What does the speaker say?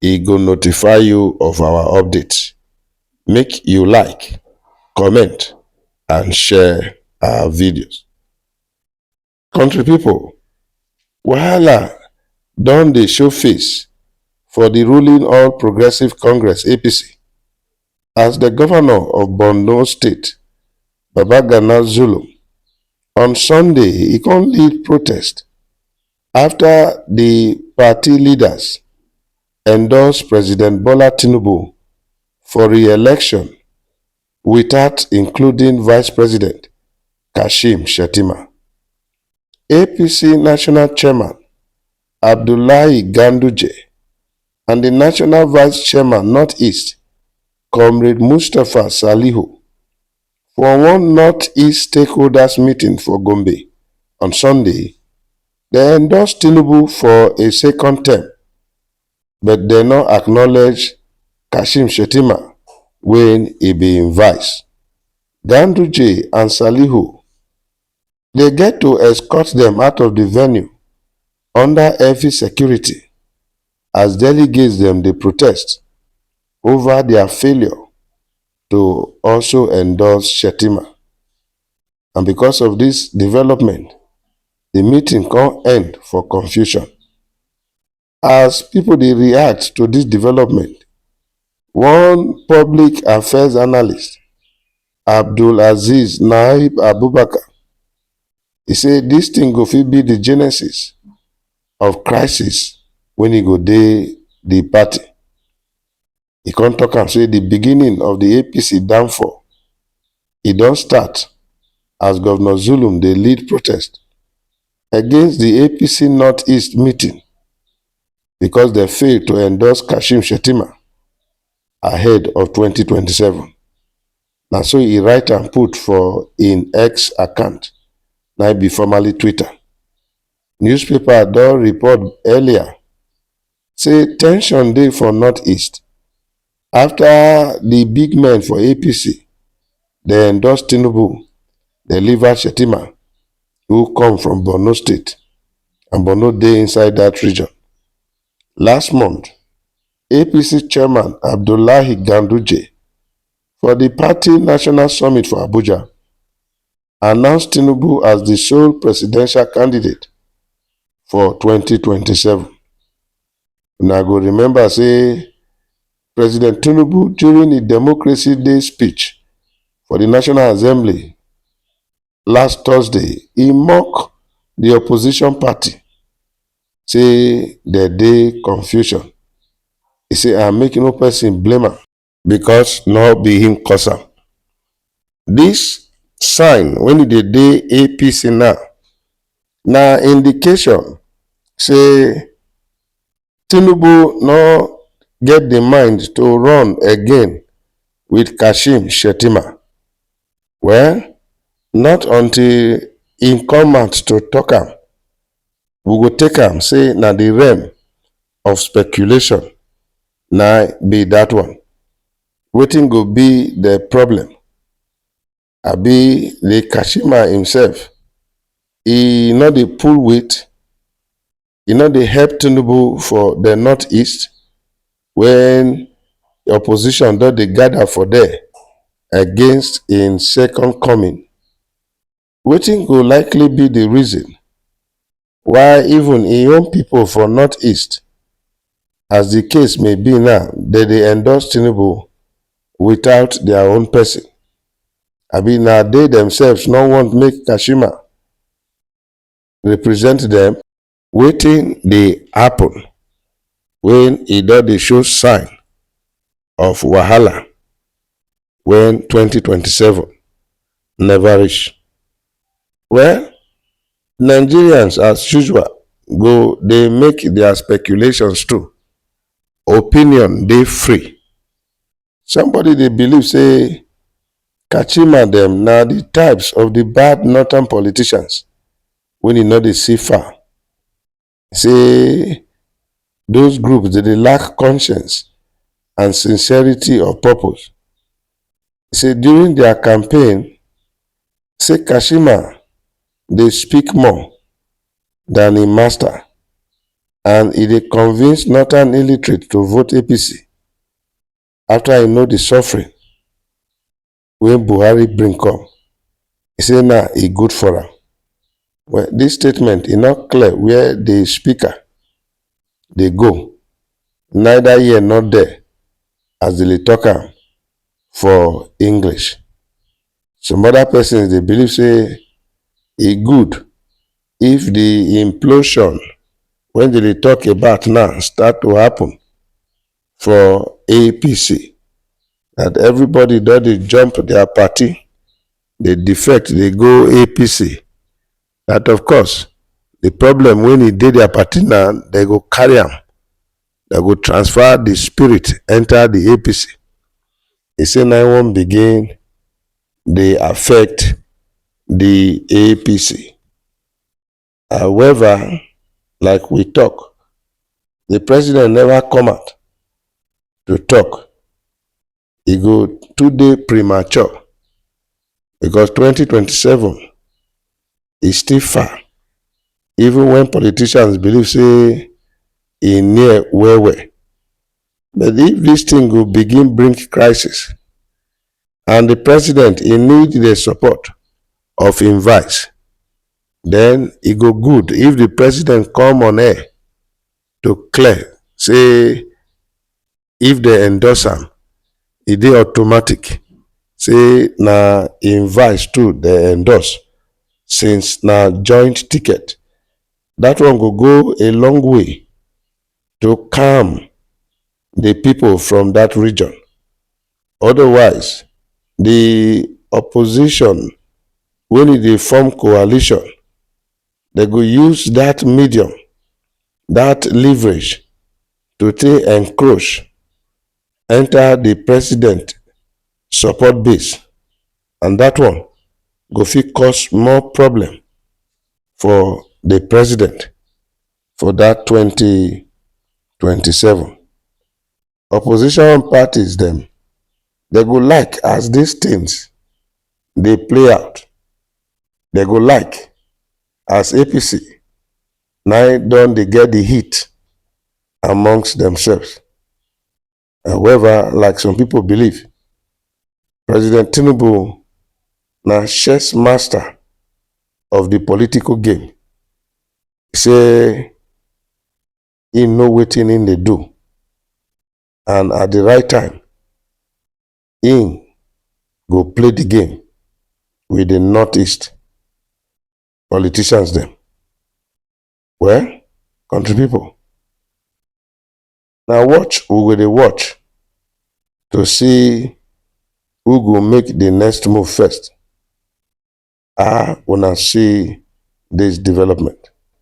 e go notify you of our updates. Make you like, comment and share our videos. Country people, wahala don dey show face for the ruling All Progressive Congress APC as the governor of Borno State, Babagana Zulum, on Sunday he come lead protest afta di party leaders endorse president bola tinubu for re-election without including vice president kashim shettima apc national chairman abdullahi ganduje and di national vice chairman north-east comrade mustapha salihu. For one North-East stakeholders meeting for Gombe on Sunday, dem endorse Tinubu for a second term, but dem no acknowledge Kashim Shettima wey e be im vice, Ganduje and Salihu. dey get to escort dem out of di venue under heavy security as delegates dem dey protest ova dia failure to also endorse shettima and becos of dis development di meeting come end for confusion. As pipo dey react to dis development, one public affairs analyst, Abdulaziz Naib Abubakar, say dis tin go fit be di genesis of crisis wey go dey di party. e come talk am say the beginning of the APC downfall e don start as Governor Zulum dey lead protest against the APC North-East meeting because dem fail to endorse Kashim Shettima ahead of 2027. Na so e write am put for im X account, na im be formerly Twitter. Newspaper don report earlier say ten sion dey for northeast afta di big men for apc dey endorse tinubu dey leave out shettima who come from borno state and borno dey inside dat region last month apc chairman abdullahi ganduje for di party national summit for abuja. announce tinubu as di sole presidential candidate for 2027 una go remember say president tinubu during di democracy day speech for di national assembly last thursday e mock di opposition party say dem dey confusion e say and make no person blame am because no be him cause am. This sign when e dey dey APC now na indication say Tinubu no get the mind to run again with Kashim Shettima. Well, not until im come out to talk am, we go take am say na the realm of speculation na be that one. Wetin go be the problem? Abi the Kashima himself, e no dey pull weight? E no dey help Tinubu for the northeast when the opposition don dey gather for there against im second coming? Wetin go likely be di reason why even im own pipo for north-east, as di case may be now, dem dey endorse Tinubu without dia own pesin? Abi na dey demsefs no want make Kashima represent dem? Wetin dey happen when e don dey show sign of wahala when twenty twenty seven never reach? Well, Nigerians as usual go dey make their speculations too. Opinion dey free Somebody dey believe say Kachima dem na the types of the bad northern politicians when e no dey see far. Say those groups dey dey lack conscience and sincerity of purpose. Say during their campaign, say Kashima dey speak more than im master and e dey convince northern illiterate to vote APC. after I know the suffering wey Buhari bring come, he say na e good for am. Well, this statement e no clear where the speaker dey go, neither here nor there as they dey talk am for English. Some other persons dey believe say e good if the implosion wey they dey talk about now start to happen for APC and everybody don dey jump their party dey defect dey go APC that of course the problem when e dey their party now they go carry am they go transfer the spirit enter the APC e say na im wan begin dey affect the APC. However, like we talk, the president never come out to talk. He go today premature because 2027 is still far. Even when politicians believe say e near well well. But if this thing go begin bring crisis, and the president he need the support of him vice then e go good if the president come on air to clear say if they endorse am e dey automatic say na him vice too dey endorse since na joint ticket that one go go a long way to calm the people from that region Odawise, di opposition wey dey dey form coalition, dem go use dat medium, dat leverage to take encroach enta di president support base and dat one go fit cause more problem for di president for dat twenty twenty seven. opposition parties dem dem go like as dis tins dey play out dem go like as apc nai don dey get di heat amongst demsefs however like some pipo believe president tinubu na chess master of di political game say him know wetin him dey do and at the right time him go play the game with the northeast politicians dem well country people na watch we go dey watch to see who go make the next move first ah una see this development